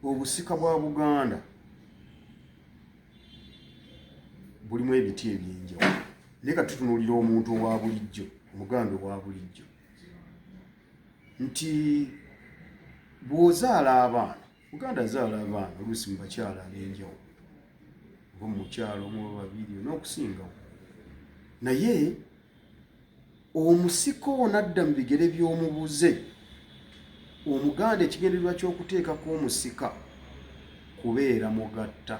obusika bwa buganda bulimu ebiti ebyenjawo naye ka tutunuulira omuntu owa bulijjo omuganda owa bulijjo nti bw'ozaala abaana muganda azaala abaana oluusi mu bakyala ab'enjawo oba mu mukyalo omu oba babiri n'okusingawo naye omusika ono adda mu bigere by'omubuze omuganda ekigendererwa ky'okuteekako omusika kubeera mugatta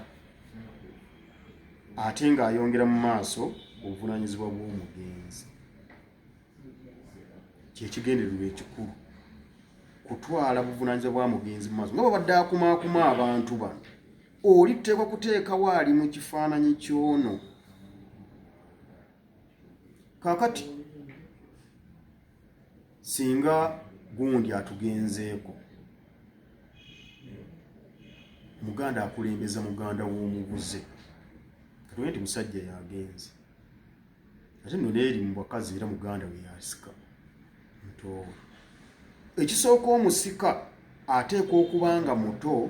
ate ng'ayongera mu maaso obuvunaanyizibwa bw'omugenzi kyekigendererwa ekikulu kutwala buvunaanyizibwa bwa mugenzi mu maaso nga babadde akumaakuma abantu bano olitteekwa kuteekawo ali mu kifaananyi ky'ono kakati singa gundi atugenzeeko muganda akulembeza muganda w'omubuze katuge nti musajja yagenze ate nno neeri mu bakazi era muganda we yasika ekisooka omusika ateekwa okuba nga muto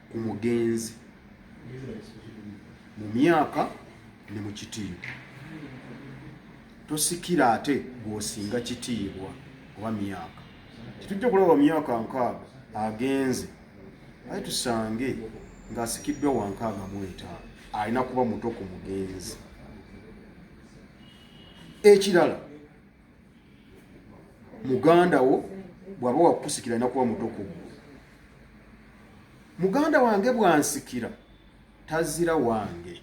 ku mugenzi mu myaka ne mu kitiibwa tosikira ate gwosinga kitiibwa oba myaka tetujja kulaba myaka nkaaga agenze aye tusange ng'asikiddwa wankaaga mu etaano alina kuba muto ku mugenzi ekirala muganda wo bw'aba wakukusikira alina kuba muto ku muganda wange bwansikira tazira wange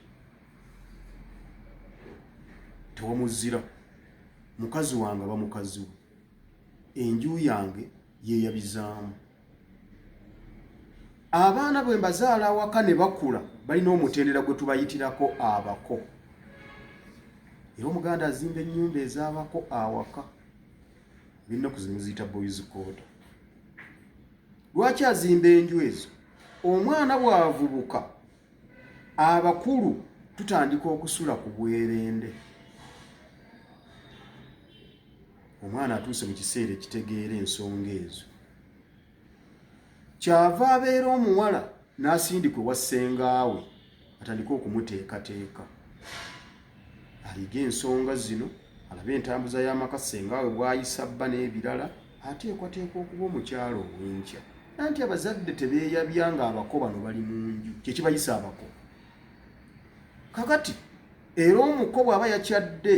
tewamuzira mukazi wange aba mukazi we enju yange yeyabizaamu abaana bwe mbazaala awaka ne bakula balina omutendera gwe tubayitirako abako era omuganda azimba ennyumba ez'abako awaka binnaku zimuziyita boys koda lwaki azimba enju ezo omwana bw'avubuka abakulu tutandika okusula ku bwerende omwana atuuse mu kiseera ekitegeera ensonga ezo kyava abeera omuwala n'asindikwe wa ssengaawe atandike okumuteekateeka ayige ensonga zino alabe entambuza y'amaka ssengawe bwayisa bba n'ebirala ateekwateeka okuba omukyala ow'enkya nanti abazadde tebeeyabya nga abako bano bali mu nju kyekibayisa abako kakati era omuko bw'aba yakyadde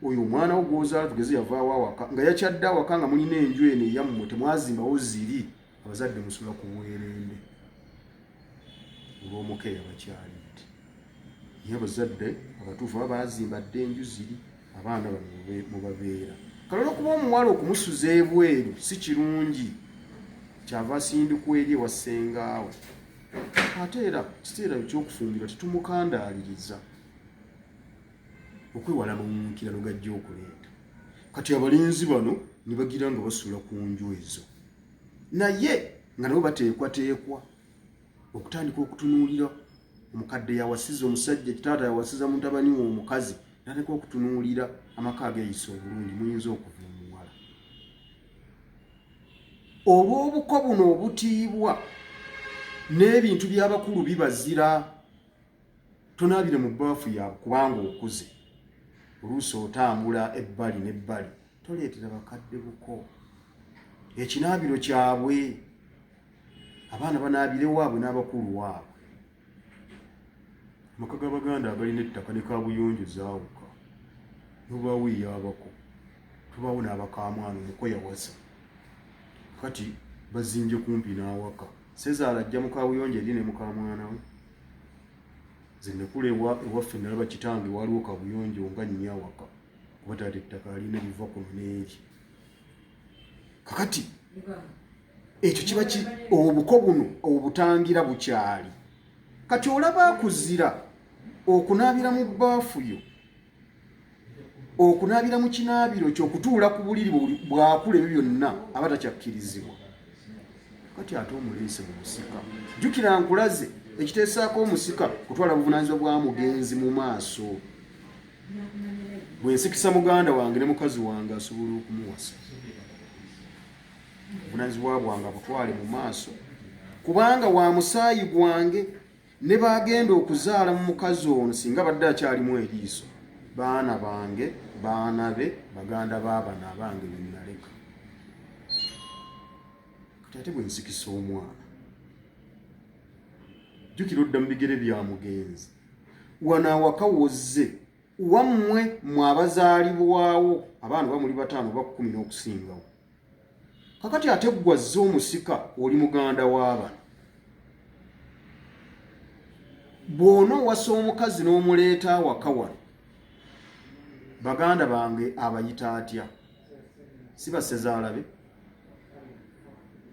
oyo omwana wo gwozaala tugeze yavaawo awaka nga yakyadde awaka nga mulina enju eno eyammwe temwazimbawo ziri Abazadde musula ku bwerende olw'omukeeya bakyalidde. Naye abazadde abatuufu baba baazimba dda enju ziri abaana bamwe mubabeera. Kale olwokuba omuwala okumusuza ebweru si kirungi kyava asindikwa eri ewa ssengaawe. Ate era kiseera ekyokufumbirwa tetumukandaaliriza okwewala mawunkirano gajja okuleeta. Kati abalenzi bano ne bagira nga basula ku nju ezo. naye nga nabo bateekwateekwa okutandika okutunuulira omukadde yawasiza omusajja kitaata yawasiza mutabani we omukazi naleka okutunuulira amaka ageyisa obulungi muyinza okuva omuwala olw'obuko buno obutiibwa n'ebintu by'abakulu bibazira tonaabire mu baafu yaabwe kubanga okuze oluusi otambula ebbali n'ebbali toleetera bakadde buko ekinaabiro kyabwe abaana banaabire waabwe n'abakulu waabwe amaka g'abaganda agalina ettaka ne kabuyonjo zaawuka nobaawo eyabako tubaawo n'abakamwana omuko yawasa kati bazimbye kumpi n'awaka sezaala ajja mu kabuyonjo eri ne mukamwana we zenekula ewaffe nalaba kitange waliwo kabuyonjo nga nnyawaka kuba taata ettaka alina ebiva kuno n'engi kakati ekyo kiba ki obuko buno obutangira bukyali kati olaba akuzira okunaabira mu bbaafu yo okunaabira mu kinaabiro kyokutuula ku buliri bwakula ebyo byonna aba takyakkirizibwa kati ate omuleese mu musika jjukira nkulaze ekiteesaako omusika kutwala buvunanyizibwa bwa mugenzi mu maaso bwensikisa muganda wange ne mukazi wange asobola okumuwasa obunanyizibwa bwange abutwale mu maaso kubanga wa musaayi gwange ne bagenda okuzaala mu mukazi ono singa badde akyalimu eriiso baana bange baana be baganda baabana abange benaleka kati ate bwensikisa omwana jjukira odda mu bigere bya mugenzi wano awaka wozze wammwe mwe abazaalibwawo abaana oba muli bataano oba kkumi n'okusingawo kakati ate ggwazze omusika oli muganda w'abana bw'ona owasa omukazi n'omuleeta awaka wano baganda bange abayita atya si basezaalabe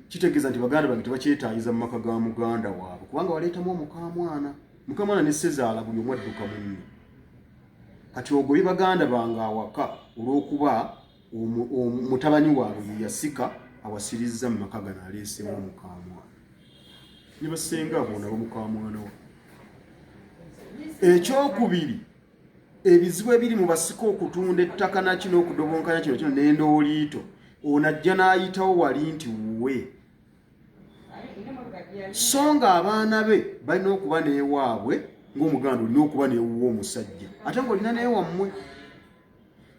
kitegeeza nti baganda bange tebakyetaayiza mu maka ga muganda waabwe kubanga waleetamu omukamwana mukamwana ne sezaala buli omu adduka munne kati ogoye baganda bange awaka olw'okuba mutabani waabwe yeyasika awasirizza mu maka gano aleesemu omukamwana ne basenga abo nabo mukamwana wa ekyokubiri ebizibu ebiri mu basika okutunda ettaka naki n'okudobonkanya kino kino n'endooliito ono ajja n'ayitawo wali nti wuwe so nga abaana be balina okuba n'ewaabwe ng'omuganda olina okuba n'ewuwa omusajja ate nga olina n'ewammwe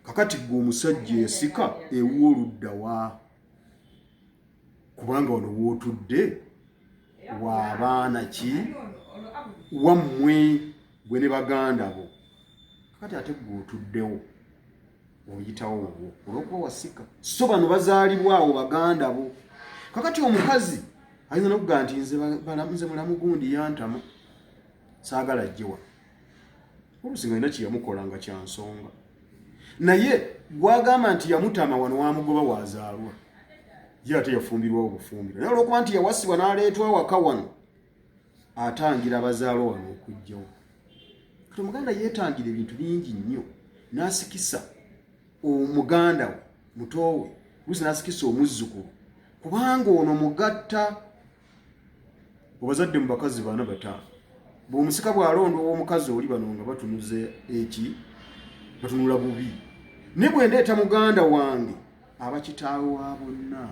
kakati gwe omusajja esika ewuwa oluddawa kubanga wano wootudde waabaana ki wammwe gwe ne baganda bo kati ate gwe otuddewo oyitawo obwo olwokuba wasika so bano bazaalibwa awo baganda bo kakati omukazi ayinza nokugaa nti nze mulamu gundi yantama saagala jjewa olusi nga olina kyeyamukola nga kyansonga naye gwagamba nti yamutama wano wamugoba wazaalwa ye ate yafumbirwa obufumbiro naye olwokuba nti yawasibwa naleetwa waka wano atangira abazaalo wano okujjawo kati omuganda yeetangira ebintu bingi nnyo n'asikisa omuganda we mutoowe luusi n'asikisa omuzzukulu kubanga ono mugatta obazadde mu bakazi bana bataano bw'omusika bw'alonda ow'omukazi oli bano nga batunuza eki batunula bubi naye bwe ndeeta muganda wange aba kitaawe wa bonna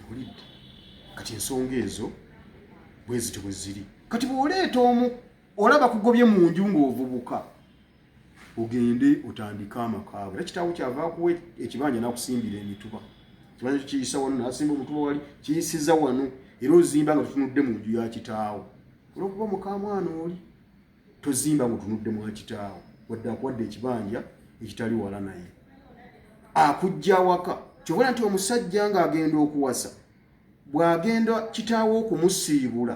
ewulidde kati ensonga ezo bwezito bwe ziri kati bw'oleeta omu olaba kugobye mu nju ng'ovubuka ogende otandike amakaabo era kitaawo kyava akuwa ekibanja n'akusimbira emituba ekibanja kyo kiyisa wano n'asimba omutuba wali kiyisiza wano era ozimba nga tutunudde mu nju ya kitaawo olwokuba mukamwana oli tozimba ngutunudde mwa kitaawo wadde akuwadde ekibanja ekitali wala naye akujja awaka kyobona nti omusajja ng'agenda okuwasa bw'agenda kitaawo okumusiibula